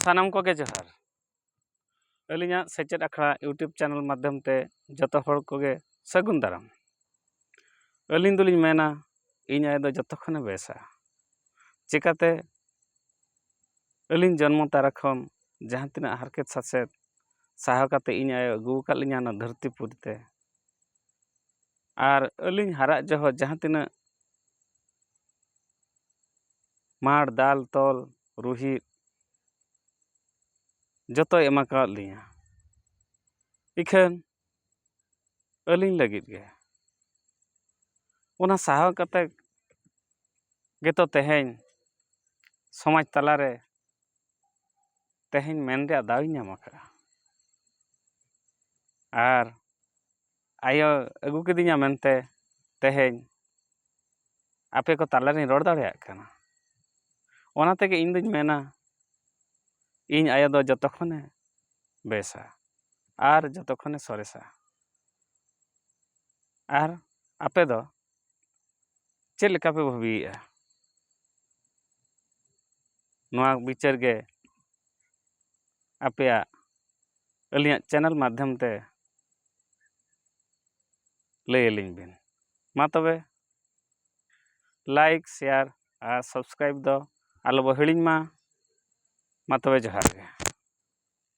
ᱥᱟᱱᱟᱢ ᱠᱚᱜᱮ ᱡᱚᱦᱟᱨ ᱟᱹᱞᱤᱧᱟᱜ ᱥᱮᱪᱮᱫ ᱟᱠᱷᱲᱟ ᱤᱭᱩᱴᱩᱵᱽ ᱪᱮᱱᱮᱞ ᱢᱟᱫᱽᱫᱷᱚᱢ ᱛᱮ ᱡᱚᱛᱚ ᱦᱚᱲ ᱠᱚᱜᱮ ᱥᱟᱹᱜᱩᱱ ᱫᱟᱨᱟᱢ ᱟᱹᱞᱤᱧ ᱫᱚᱞᱤᱧ ᱢᱮᱱᱟ ᱤᱧ ᱟᱭᱳ ᱫᱚ ᱡᱚᱛᱚ ᱠᱷᱚᱱᱮ ᱵᱮᱥᱟ ᱪᱤᱠᱟᱹᱛᱮ ᱟᱹᱞᱤᱧ ᱡᱚᱱᱢᱚ ᱛᱟᱨᱟ ᱠᱷᱚᱱ ᱡᱟᱦᱟᱸ ᱛᱤᱱᱟᱹᱜ ᱦᱟᱨᱠᱮᱛ ᱥᱟᱥᱮᱛ ᱥᱟᱦᱟᱣ ᱠᱟᱛᱮᱫ ᱤᱧ ᱟᱭᱳ ᱟᱹᱜᱩ ᱟᱠᱟᱫ ᱞᱤᱧᱟᱹ ᱱᱚᱣᱟ ᱫᱷᱟᱹᱨᱛᱤ ᱯᱩᱨᱤ ᱛᱮ ᱟᱨ ᱟᱹᱞᱤᱧ ᱦᱟᱨᱟᱜ ᱡᱚᱦᱚᱜ ᱡᱟᱦᱟᱸ ᱛᱤᱱᱟᱹᱜ ᱢᱟᱬ ᱫᱟᱞ ᱛᱚᱞ ᱨᱩᱦᱮᱫ ᱡᱚᱛᱚᱭ ᱮᱢᱟ ᱠᱟᱣᱟᱫ ᱞᱤᱧᱟᱹ ᱤᱠᱷᱟᱹᱱ ᱟᱹᱞᱤᱧ ᱞᱟᱹᱜᱤᱫ ᱜᱮ ᱚᱱᱟ ᱥᱟᱦᱟᱣ ᱠᱟᱛᱮ ᱜᱮᱛᱚ ᱛᱮᱦᱮᱧ ᱥᱚᱢᱟᱡᱽ ᱛᱟᱞᱟ ᱨᱮ ᱛᱮᱦᱮᱧ ᱢᱮᱱ ᱨᱮᱭᱟᱜ ᱫᱟᱣᱤᱧ ᱧᱟᱢ ᱟᱠᱟᱫᱼᱟ ᱟᱨ ᱟᱭᱳ ᱟᱹᱜᱩ ᱠᱤᱫᱤᱧᱟ ᱢᱮᱱᱛᱮ ᱛᱮᱦᱮᱧ ᱟᱯᱮ ᱠᱚ ᱛᱟᱞᱟ ᱨᱤᱧ ᱨᱚᱲ ᱫᱟᱲᱮᱭᱟᱜ ᱠᱟᱱᱟ ᱚᱱᱟ ᱛᱮᱜᱮ ᱤᱧ ᱫᱩᱧ ᱢᱮᱱᱟ ᱤᱧ ᱟᱭᱳ ᱫᱚ ᱡᱚᱛᱚ ᱠᱷᱚᱱᱮ ᱵᱮᱥᱟ ᱟᱨ ᱡᱚᱛᱚ ᱠᱷᱚᱱᱮ ᱥᱚᱨᱮᱥᱟ ᱟᱨ ᱟᱯᱮ ᱫᱚ ᱪᱮᱫ ᱞᱮᱠᱟ ᱯᱮ ᱵᱷᱟᱹᱵᱤᱭᱮᱜᱼᱟ ᱱᱚᱣᱟ ᱵᱤᱪᱟᱹᱨ ᱜᱮ ᱟᱯᱮᱭᱟᱜ ᱟᱹᱞᱤᱧᱟᱜ ᱪᱮᱱᱮᱞ ᱢᱟᱫᱽᱫᱷᱚᱢ ᱛᱮ ᱞᱟᱹᱭ ᱟᱹᱞᱤᱧ ᱵᱤᱱ ᱢᱟ ᱛᱚᱵᱮ ᱞᱟᱭᱤᱠ ᱥᱮᱭᱟᱨ ᱟᱨ ᱥᱟᱵᱥᱠᱨᱟᱭᱤᱵᱽ ᱫᱚ ᱟᱞᱚ ᱵᱚ ᱦᱤᱲᱤᱧ ᱢᱟ ᱢᱟ ᱛᱚᱵᱮ ᱡᱚᱦᱟᱨ ᱜᱮ